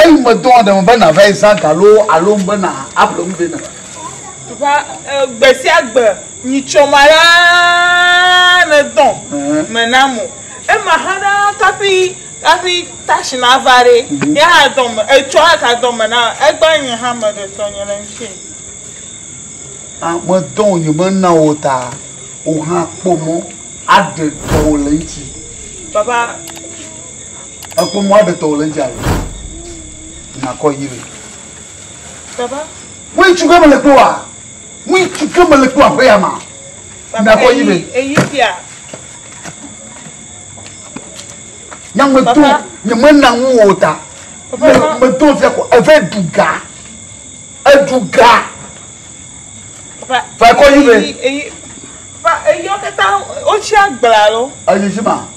Eyi medɔ aɖe me be nàvae zã ga loo alo ŋu be nàaƒle nu vɛ na. Ɖoa gbe sia gbe nyitsɔ ma la nedɔ me nam o. Ema hã ɖa kaƒi kaƒi tashi nava ɖe, ya hã dɔ me etsɔ aka dɔ me na egba nye hã me ɖe tɔ nye le ŋuti. A medɔ o nye me na o ta o hã kpɔ mɔ aɖe tɔ o le ŋuti. Papa. Ekpɔ mɔ aɖe tɔ wòle eŋuti alo nakɔ yi le. Papa. Ŋutsu ke mele kpɔ wa? Ŋutsu ke mele kpɔ aƒe ya ma? Nakɔ yi le. Eyi fia. Nyameto nye mena ŋu o ta. Meto fia ko eve duga. Eduga. Papa. Fa kɔ yi le. Eyi. Papa eyi ɔkata otsi agbla lo. Eyi fi ma.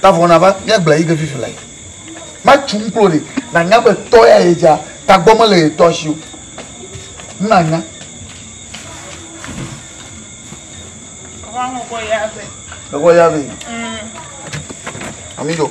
ta vɔ nava míagblẽ yi ke fifi le matsu ŋklo ɖi nanya be tɔ ya ye dza tagbɔ mele ye tɔ si o nanya Vamos goiave. Goiave. Mm. Amigo.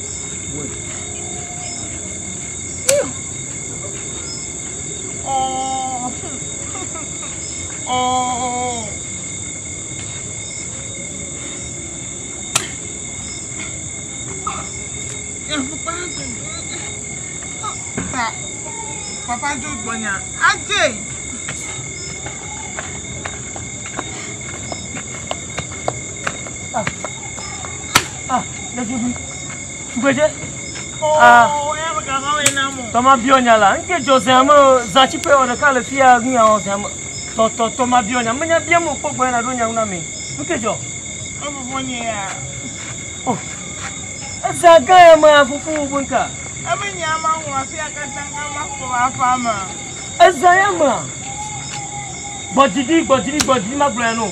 Papa Joe Bonya. Ajay! Ah, ɖetugbui. Tugbedze. Ah. Tɔma biɔ nya la. Ŋke dzɔ zea me zã tsi ƒe wɔ ɖeka le fia nu ya wɔ zea me. Tɔ tɔ tɔ ma biɔ nya. Me nya biam o kpɔ gbɔ na ɖo nya na me. Ŋke dzɔ. Efufu nye ya. Oh. Eza gã ya me afufu wo bo nka. Eme nya ma wɔ afia katã ka ma kpɔ afa ma. Eza ya me. Gbɔdidi gbɔdidi gbɔdidi ma gblɔ ya no.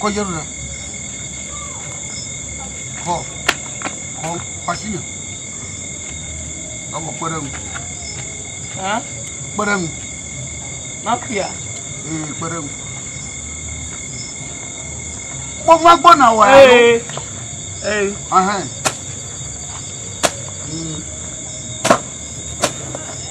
kɔdze ɖo ɖa. Kɔ, kɔ, kɔ asi me. Ewɔ kpe ɖe ŋu. Hã? Kpe ɖe ŋu. Mafia. Ee, kpe ɖe ŋu. Mo va gbɔ na wɔ alo. Ee. Ahɛn. Mm.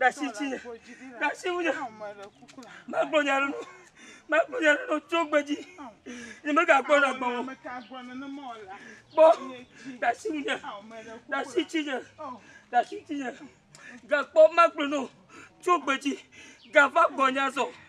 ɖasi tsi ɖasi ŋu magblɔ nya ɖe magblɔ nya ɖe tso gbe dzi ne mega gbɔ na gbɔ gbɔ ɖasi ŋu nya ɖasi tsi nya ɖasi tsi nya gakpɔ magblɔ no tso gbe dzi gava gbɔ nya zɔ.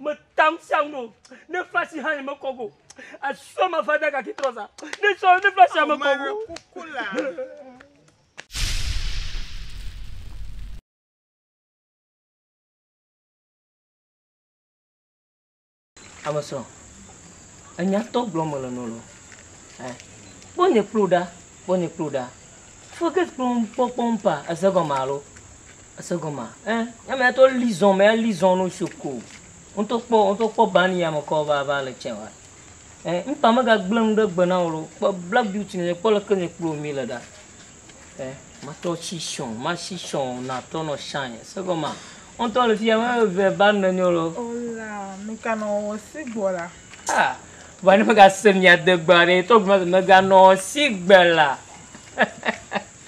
Meta ŋu sia ŋu o. Ne flasi hã nye mekɔ go. Asɔ ma va da gaki trɔza. Ne sɔ ne flasi hã mekɔ go. Kuku la. Amesrɔ̃, enyatɔ gblɔm mele nɔ lɔ. Kpɔ nye kplo ɖa, kpɔ nye klo ɖa. Fɔkes kplɔm kpɔkpɔm pa eze gɔme alo. Ese gɔmea? Ẽ, nye mea to li zɔn me ali zɔn no sio ko. Woto kpɔ, woto kpɔ ban ya me kɔ va va le cɛwa. Ẽ, mpa me ga gble nu ɖe gbe na wolo. Kpɔ black beauty ne kpɔ le ke ne kplo mi le da. Ẽ, ma to chi shon, ma chi shon na to no shine. Ese gɔmea? Woto le fia me ve ban ne nyolo. Ola, nu ka no wo si gbo la? Ah, ba ne me ga se mi adegba ne to gbe me ga no si gbe la.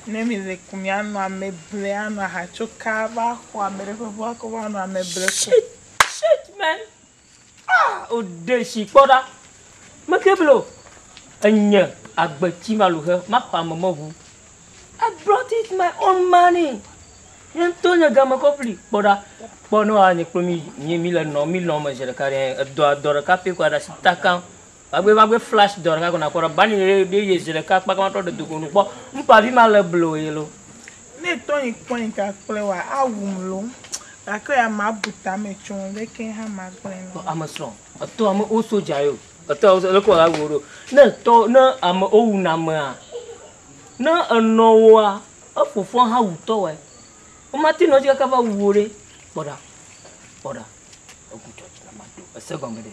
Ne mìle ku mìanɔ ame ble anɔ aha tso ka va xɔ ame ɖe ƒe ʋu akɔ va nɔ ame ble ku. Shit man. Ah, o de shi kpɔ ɖa. Me ke blo. Enye agbe tsi ma lu he ma xɔ ame me ʋu. I brought it my own money. Nye ŋutɔ nye game kɔ fli kpɔ ɖa. Kpɔ ne wa nye kplo mi mi le nɔ mi lɔ me zi ɖeka ɖe edɔ dɔ ɖeka pɛ ko aɖa shi takam. Vagbe vagbe flash dɔ ɖeka ko nakpɔ ɖe bani ɖe ɖe ye zi ɖeka kpaka matrɔ ɖe dogo nu kpɔ ŋkpavi ma le blo ye lo. Ne etɔ nyi kpɔ nyi ka kple wa awum lo gake ya ma bu ta me tso ŋu ɖeke ha ma gble na wo. Ame srɔ etɔ ame wo soja yo etɔ wo leke wa awuo ɖo ne etɔ ne ame wo wu na amea ne enɔ woa efofoa ha wu tɔ wae wo ma te nɔ dzi kaka va wu wo ɖe kpɔɖa kpɔɖa eku tsɔ dzi na ma do ese gɔme ɖe.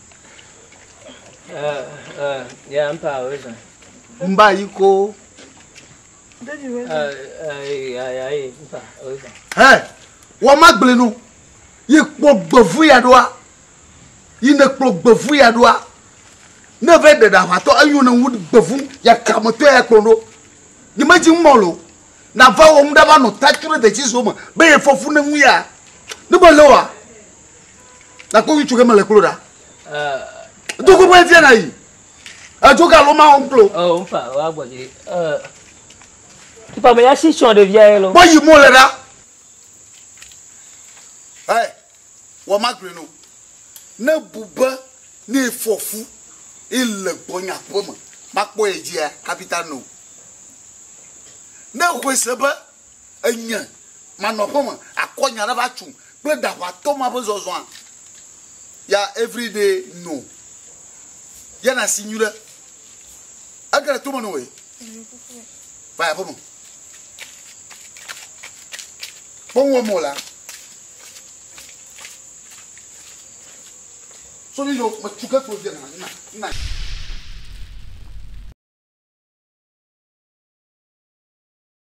Mba yi ko. Hɛ, wa ma gblẽ no. Yi kpɔ gbevu ya ɖoa. Yi ne kplɔ gbevu ya ɖoa. Ne ve ɖe ɖa ʋatɔ enyo ne ŋu gbevu ya kame tɔ ya kplɔ ɖo. Yi me dzi ŋmɔ lo. Na va wɔ ŋu ɖa va nɔ ta tru ɖe de tsi zo me be ye fɔfu ne ŋu ya. Ne me le wa. Na kpɔ ŋutsu ke mele klo ɖa. Do gbogbo efia na yi. Edzo ga lo ma wo klo. Ɔ nfa wa gbɔ dzi. Ɛ. Tipa me ya si tsɔ ɖevia ye lo. Bɔ yi mo le ɖa. Ɛ. Wɔ ma gblɔ no. Ne bube ne fɔfu ile gbɔnya ƒe me. Ma kpɔ ye dzia kapita no. Ne xɔe se be Enye, manɔ aƒe me akɔ nya ɖe va tsu kple ɖaʋatɔ ma ƒe zɔzɔa? Ya every day no. Ya na si nyuɖe. Ege le tome noe. Va aƒe me. Kpɔwɔ mo la. So ni yo me tsu ke kpo de na na na.